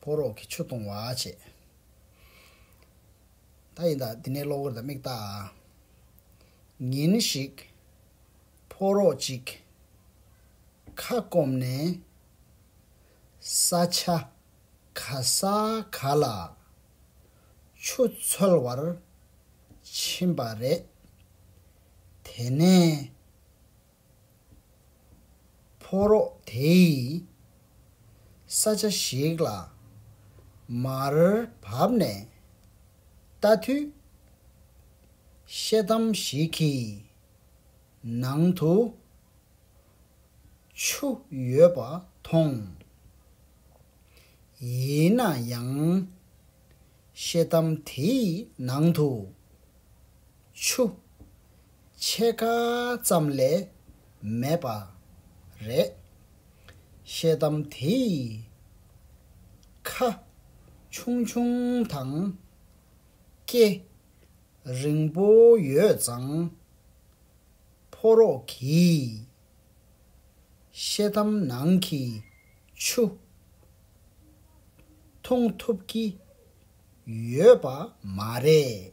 ཕོ་རོག་གི་ཆུ་གཏོང་བ་བྱེད། ད་ཡིན་དང་འདི་ནས་གློག་འོད་དང་མིག་བལྟ། ཉིན་ཞིག། ཕོ་རོག་ཅིག། ཁ་སྐོམ་ནས། ས་ཆ། ག་ས་ག་ལ། ཆུ་འཚོལ་བར། ཕྱིན་པ་རེད། དེ་ནས། ཕོ་རོག་དེས་ས་ཆ་ཞིག་ལ་མར་བབས་ནས་ལྟ་དུས། ཤེལ་དམ་ཞིག་གི་ནང་དུ་ཆུ་ཡོད་པ་མཐོང། ཡིན་ན་ཡང་ཤེལ་དམ་དེའི་ནང་དུ་ཆུ་ཕྱེད་ཀ་ཙམ་ལས་མེད་པ་རེད། ཤེལ་དམ་དེ་ཡི་ཁ་ཆུང་ཆུང་དང། སྐེ་རིང་པོ་ཡོད་ཙང། ཕོ་རོག་གིས་ཤེལ་དམ་ནང་གི་ཆུ་འཐུང་ཐུབ་ཀྱི་ཡོད་པ་མ་རེད།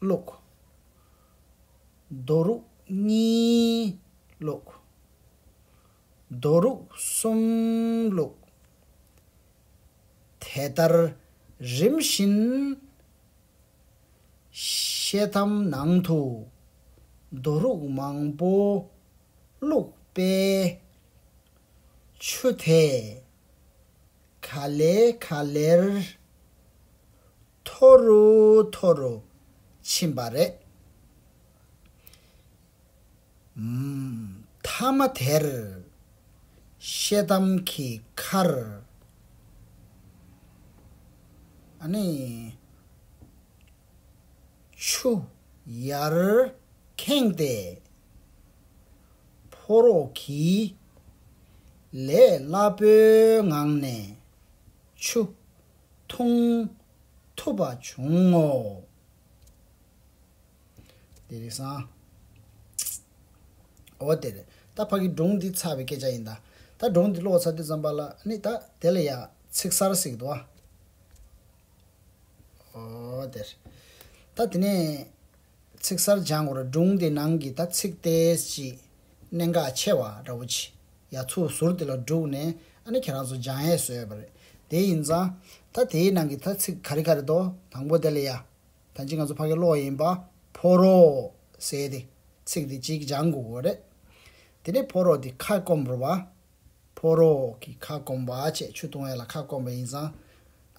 ཀློགས། རྡོ་རུག་གཉིས་ཀློགས། རྡོ་རུག་གསུམ་ཀློགས། དེ་ལྟར་རིམ་བཞིན། ཤེལ་དམ་ནང་དུ་རྡོ་རུག་མང་པོ་བླུགས་པས། ཆུ་དེས་ག་ལེ་ག་ལེར། མཐོ་རུ་མཐོ་རུ་ཕྱིན་པ་རེད། མཐའ་མ་དེར་ཤེལ་དམ་གྱི་ཁར། ཆུ་ཡར་ཁེངས་ཏེ་ཕོ་རོག་གིས་ལས་སླ་པོའི་ངང་ནས་ཆུ། མཐོང། ཐོབ་པ་བྱུང་ངོ། འདི་རིགས་སམ། འོ་དེར་ད་ཕ་གི་སྒྲུང་འདི་ཚར་བའི་སྐད་ཆ་ཡིན་ད། ད་སྒྲུང་འདི་ཀློག་ཚར་དུས་ཙམ་པ་ལ་ནི་ད་དེ་ལ་ཡང་ཚིག་གསར་གཟིགས་འདུག་ཨ། འོ་དེར་ད་དེ་ནས། ཚིག་གསར་སྦྱང་བར་སྒྲུང་དེ་ནང་གི་ཐ་ཚིག་སྟེ་སྤྱི། གནད་འགག་ཆེ་བ་ར་བོ་ཆེ་ཡ་ཚུགས་ཟུར་དེ་ལ་བསྒྲུགས་ནས་ཨ་ནི་ཁྱེད་རང་ཚོ་སྦྱང་ཡས་བཟོས་པ་རེད། དེ་ཡིན་ཙང། ད་དེའི་ནང་གི་ཐ་ཚིག་ག་རེ་ག་རེ་དོ་དང་པོ་དེ་ལ་ཡ། ཐ་ཇི་ང་ཚོ་ཕ་གི་བློ་ཡིན་པ་ཕོ་རོགས་ཟེར་ཏེ་ཚིག་དེ་གཅིག་སྦྱང་དགོས་རེད། དེ་ནས་ཕོ་རོགས་དེ་ཁ་སྐོམ་རུ་བ་ཕོ་རོག་གིས་ཁ་སྐོམ་བ་བཅས་ཆུ་བཏུང་བས་ལ་ཁ་སྐོམ་པ་ཡིན་ཙང།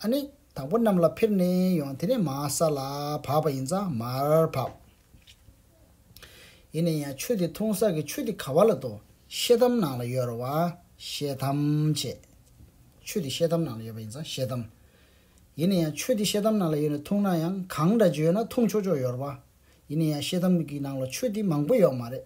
ཨ་ནི། དང་པོ་གནམ་ལ་ཕེབས་ནས་ཡོང་དེ་ནས་མ་ས་ལ་བབས་པ་ཡིན་ཙང་མར་བབས། ཡིན་ན་ཡང་ཆུ་དེ་འཐུང་ས་ཀྱི་ཆུ་དེ་ག་བ་ལ་འདུག་ཤེལ་དམ་ནང་ལ་ཡོད་ར་བ། ཤེལ་དམ་བྱེད། ཆུ་དེ་ཤེལ་དམ་ནང་ལ་ཡོད་པ་ཡིན་ཙང་ཤེལ་དམ། ཡིན་ན་ཡང་ཆུ་དེ་ཤེལ་དམ་ནང་ལ་ཡོད་ནས་འཐུང་ན་ཡང་གང་འདྲ་བརྗོད་ན་འཐུང་ཆོག་ཆོག་ཡོད་ར་བ། ཡིན་ན་ཡང་ཤེལ་དམ་གྱི་ནང་ལ་ཆུ་དེ་མང་པོ་ཡོད་མ་རེད།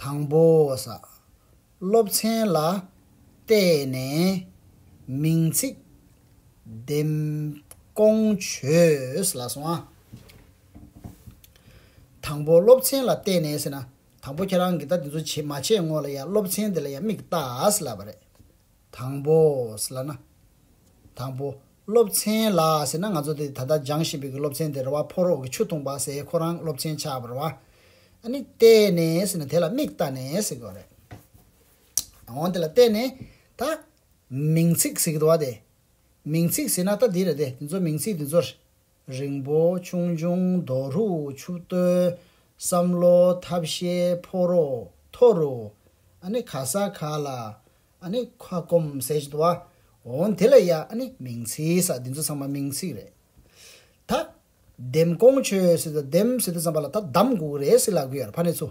དང་པོ། སློབ་ཚན་ལ་བལྟས་ནས་མིང་ཚིག་འདེམས་སྐོང་བྱོས། དང་པོ། སློབ་ཚན་ལ་བལྟས་ནས་ཟེར་ན། དང་པོ་ཁྱེད་རང་གིས་ད་དེ་ཚོ་བྱེད་མ་བྱས་སྔོན་ལ་ཡང་སློབ་ཚན་དེ་ལ་ཡང་མིག་བལྟ་ཟེར་ལབ་པ་རེད། དང་པོ། ལ་ན། དང་པོ། སློབ་ཚན་ལ་ཟེར་ན་ང་ཚོ་དེ་ད་ལྟ་སྦྱང་བཞིན་པའི་གི་སློབ་ཚན་དེ་རེ་བ་ཕོ་རོག་གི་ཆུ་འཐུངས་པ་ཟེ་ཁོ་རང་སློབ་ཚན་ཆགས་པར་བ་ཨ་ནི་བལྟས་ནས་ཟེར་ན་དེ་ལ་མིག་བལྟ་ནས་ཟེར་གི་བ་རེད། འོང་དེ་ལ་བལྟས་ནས་ད། མིང་ཚིག་ཟེར་གི་འདུག་བ་དེ། མིང་ཚིག་ཟེར་ན་ད་དེ་རེད་དེ་དེ་ཚོ་མིང་ཚིག་དེ་ཚོར། རིང་པོ་ཆུང་ཆུང་རྡོ་རུ་ཆུ་བརྟོལ། བསམ་བློ་ཐབས་ཤེས་ཕོ་རོག་མཐོ་རུ། ཨ་ནི་ཁ་ས་ཁ་ལ་ཨ་ནི་ཁ་སྐོམ་ཟས་བྲོ་བ། འོན་དེ་ལ་ཡ་ཨ་ནི་མིང་ཚིག་ས་འདི་ཚོ་ཚང་མ་མིང་ཚིག་རེད། ད། ལྡེམ་ཀོང་ཆོས་སི་ད་ལྡེམ་སི་ད་ཙམ་པ་ལ་ད་གདམ་འགུག་རེད་སི་ལ་གུ་ཡར་ཕ་ནི་ཚུ།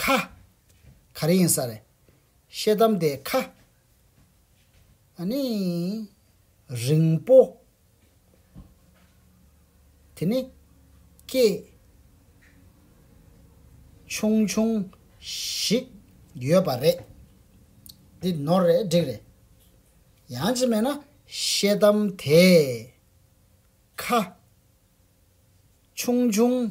ཁ། ག་རེ་ཡིན་ས་རེད། ཤེལ་དམ་དེ་ཁ། ཨ་ནི། རིང་པོ། དེ་ནི། སྐྱེས། ཆུང་ཆུང། ཞིག། ཡོད་པ་རེད། འདི་ནོར་རེད་འགྲིག་རེད། ཡང་ཅིག་སྨྲས་ན། ཤེལ་དམ་དེ། ཁ། ཆུང་ཆུང།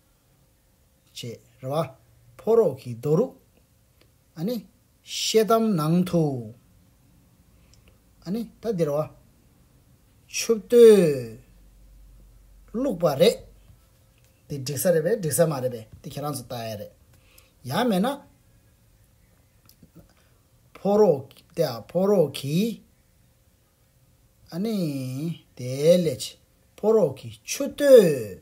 ཅེས་རེ་བ། ཕོ་རོག་གིས་རྡོ་རུག། ཨ་ནི། ཤེལ་དམ་ནང་དུ། ཨ་ནི། ད་འདིར་བ། ཆུ་བརྟོལ། བླུགས་པ་རེད། འདི་འགྲིག་ས་རེད་པས་འགྲིག་ས་མ་རེད་པས་འདི་ཁྱེད་རང་ཚོ་ལྟ་ཡ་རེད། ཡག་མེད་ན། ཕོ་རོག་ཏེ་ཨ་ཕོ་རོག་གིས། ཨ་ནི། དེ་ལས་ཕོ་རོག་གིས་ཆུ་བརྟོལ།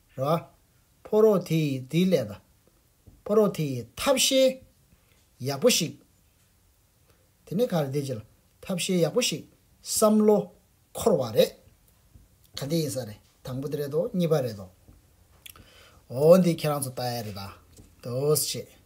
ར། ཕོ་རོག་དེ་ཡིས་དེའི་ལས་ད། ཕོ་རོག་དེ་ཡིས་ཐབས་ཤེས་ཡག་པོ་ཞིག། དེ་ནས་ག་རེ་བདེ་ཅེ་ལ། ཐབས་ཤེས་ཡག་པོ་ཞིག་བསམ་བློ་འཁོར་བ་རེད། ག་འདི་ཡིན་ས་རེད་དང་པོ་དེ་རེད་དོ་གཉིས་པ་རེད་དོ། འོ་འདི་ཁྱེད་རང་ཚོ་ལྟ་ཡ་རེད་དོ་ཞེས།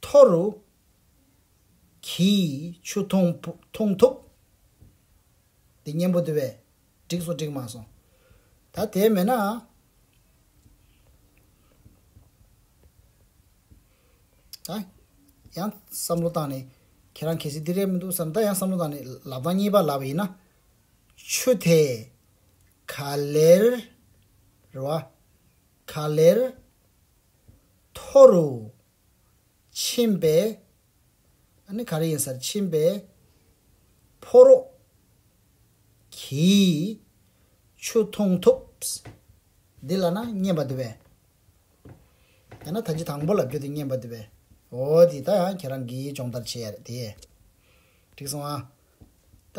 མཐོ་རུ། གྱིས། ཆུ་འཐུང་འཐུང་ཐུབ། འདི་སྙན་པོ་འདི་བས། འགྲིག་སོང་འགྲིག་མ་སོང། ད་དེ་མེད་ན། ད། ཡང་བསམ་བློ་བཏང་ནས། ཁྱེད་རང་གལ་སྲིད་འདི་རེད་མི་འདུག་བསམ་ན་ད་ཡང་བསམ་བློ་བཏང་ནས་ལབ་སྟངས་གཉིས་པ་ལབ་པ་ཡིན་ན། ཆུ་དེས། ག་ལེར། རེད་བ། ག་ལེར། མཐོ་རུ། ཕྱིན་པས། ཨ་ནི་ག་རེ་ཡིན་སར་ཕྱིན་པས། ཕོ་རོག་གིས་ཆུ་འཐུང་ཐུབ། འདི་ལ་ན་བསྙེན་པ་འདི་བས། ཡང་ན་ད་ཅི་དང་པོ་ལ་རྒྱུ་དེ་བསྙེན་པ་འདི་བས། འོ་དེ་ད་ཡང་ཁྱེད་རང་གིས་སྦྱོང་བརྡར་བྱེད་ཡ་རེད་དེ། འགྲིག་སོང་ཨ། ད།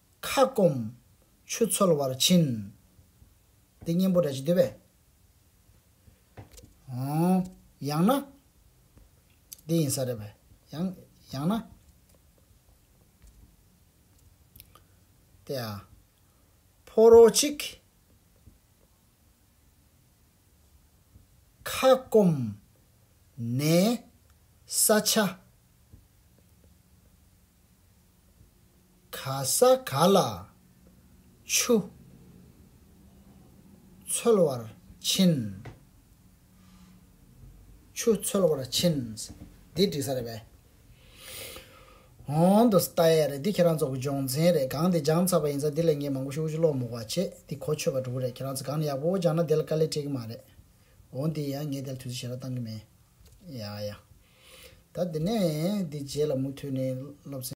ཁ་སྐོམ། ཆུ་འཚོལ་བར་ཕྱིན། འདི་གཉེན་པོ་འདྲ་བྱེད་དུས་བས། ཡང་ན། འདི་ཡིན་ས་རེད་བས། ཡང། ཡང་ན། དེ་ཡང། ཕོ་རོག་ཅིག། ཁ་སྐོམ། ནས། ས་ཆ། ག་ས་ག་ལ། ཆུ། འཚོལ་བར་ཕྱིན། ཆུ་འཚོལ་བར་ཕྱིན། འདི་འགྲིག་ས་རེད་པས། གོང་དུ་ལྟ་ཡས་རེད་འདི་ཁྱེད་རང་ཚོ་གི་སྦྱོང་ཚན་རེད་གང་དེ་སྦྱང་ཚར་བ་ཡིན་ཚ་འདི་ལས་ངས་མང་པོ་ཞིག་དབུ་ཅུ་ཀློག་མུག་བ་བྱས་འདི་གོ་ཆོད་པ་འགྲོ་གི་རེད་ཁྱེད་རང་ཚོ་གང་ནས་ཡག་པོ་པོ་སྦྱང་ན་དེ་ལ་དཀའ་ལས་སྤྲད་གི་མ་རེད་འོ་འདི་ཡང་ངས་དེ་ལ་དུས་ཚོད་ཞེ་དྲག་བཏང་གི་མེད་ཡ་ཡ། ད་འདི་ནས་འདི་རྗེས་ལ་མུ་མཐུད་ནས་སློབ་ཚན།